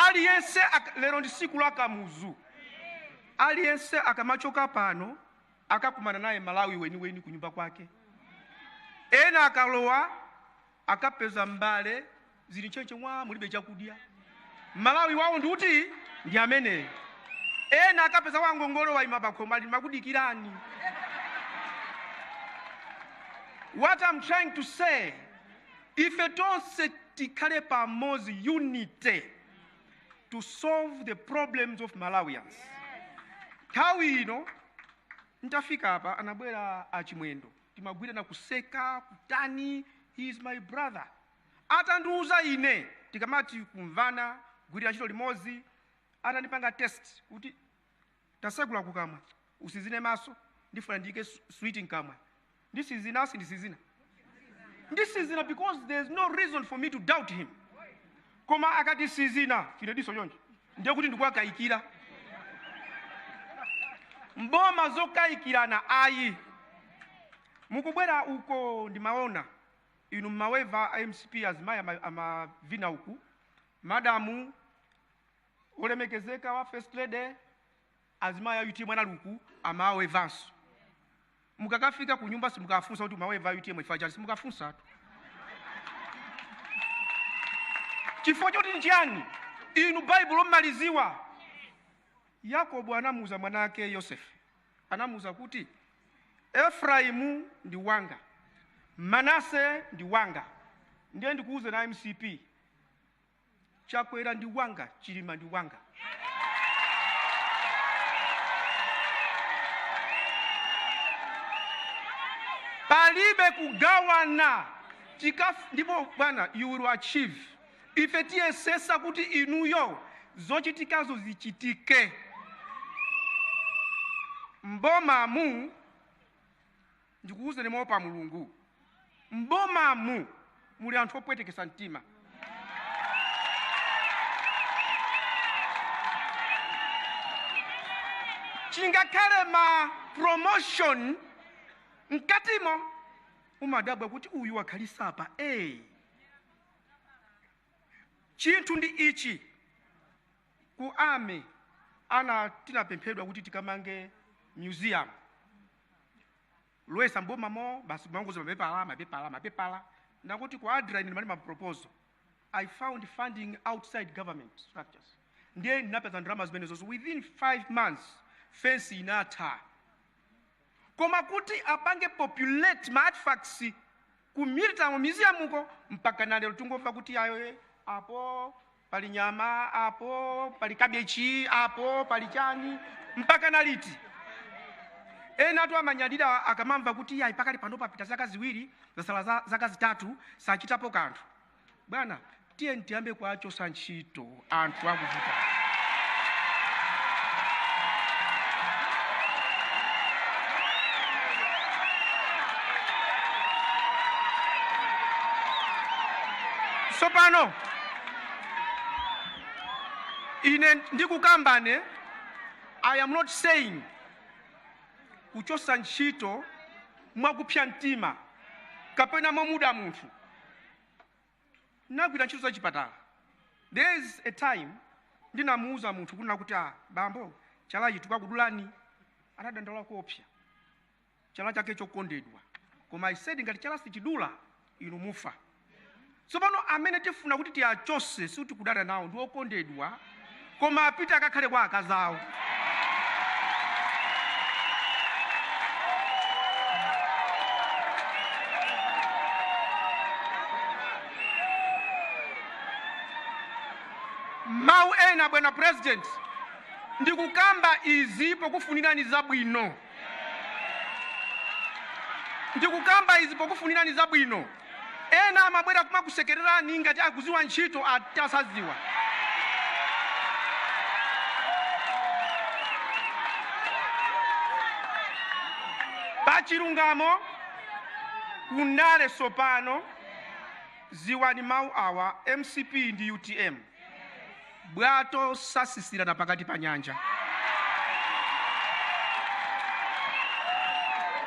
aliyense ak- lero ndi siku la kamuzu aliyense akamachoka pano akakumana naye malawi weniweni kunyumba kwake ena akalowa akapeza mbale zili ntchentche mwa mulibe chakudya malawi wawo ndi uti ndi ameneyo ena akapeza wangongole waima pakhomo ali makudikirani what i'm trying to say ife tonse tikhale pamodzi unite to solve the problems of malawians nthawi ino ntafika apa anabwera achimwendo timagwirirana kuseka kutani he is my brother atandiuza ine tikamati kumvana kugwirira ntchito limodzi atandipanga test kuti tasegula kukamwa usizine maso ndifuna ndiyike su- switi mkamwa ndisizina sindisizina ndisizina because there is no reason for me to doubt him koma akati sizina chinadiso choncho ndiye kuti ndikuwakayikira mboma zokayikirana ayi mukubwera uko ndimaona inu mmaweva a mcp azimayi ama- amavina uku madamu olemekezeka a first lady azimayi a utm anali uku amawevanso mukakafika ku nyumba simukafunsa kuti umaweva utm chifa chani simukafunsatu chifukwa choti ndi chiyani inu baibulo mmaliziwa yakobo anamuuza mwana ake yosefe anamuuza kuti efraimu ndi wanga manase ndi wanga ndiye ndikuuze na mcp chakwera ndi wanga chilima ndi wanga palibe kugawana Chikaf, ndipo bwana you will achieve ife tiyesesa kuti inuyo zochitikazo zichitike mbomamu ndikuwuzeni moopa mulungu m'bomamu muli anthu opwetekesa mtima chingakhale ma promotion mkatimo umadabwa kuti uyu wakhalitsa apa hey. chinthu ndi ichi ku ame ana tinapemphedwa kuti tikamange museum Loyesa m'bomamo basi kumangoti mapepala mapepala mapepala ndipo ku ADRA ine ndimalemba maproposal i found funding outside government structures ndiye ndinapeza ndalama zimenezozo within five months fensi inatha koma kuti apange populate ma artifacts ku military museum uko mpaka na lero tikungomva kuti ayi eh, apo pali nyama apo pali kabichi apo pali chani mpaka na liti ena anthu amanyadira akamamva kuti yayi pakali pano papita zaka ziwiri zasala za- zaka zitatu sachitapo kanthu bwana tiyeni tiyambe kuwachosa ntchito anthu akuvuta tsopano ine ndikukambane i am not saying kuchosa ntchito mwakupsa mtima kapena mwa kuda munthu ndagwira ntchito za chipatala there is a time ndinamuuza munthu kunena kuti ah bambo chalachi tikakudulani anadandaula koopsa chala chake chokondedwa koma I said ngati chala sichidula inu mufa tsopano amene tifuna kuti tiwachose sikuti kudana nawo ndi okondedwa koma apite akakhale kwa akazi awo mawu ena bwana president ndikukamba izi pokufunirani zabwino Ndikukamba izi pokufunirani zabwino. Ena amabwera kumakusekererani ngati akuziwa ntchito atasaziwa. Pachilungamo, kundale sopano, ziwani mau awa, mcp ndi utm. bwato sasisirana pakati pa nyanja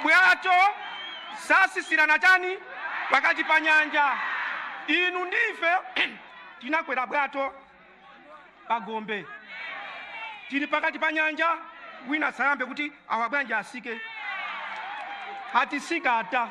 bwato sasisirana chani pakati pa nyanja inu ndi ife tinakwera bwato pa gombe tili pakati pa nyanja wina sayambe kuti awa bwanji asike atisika ata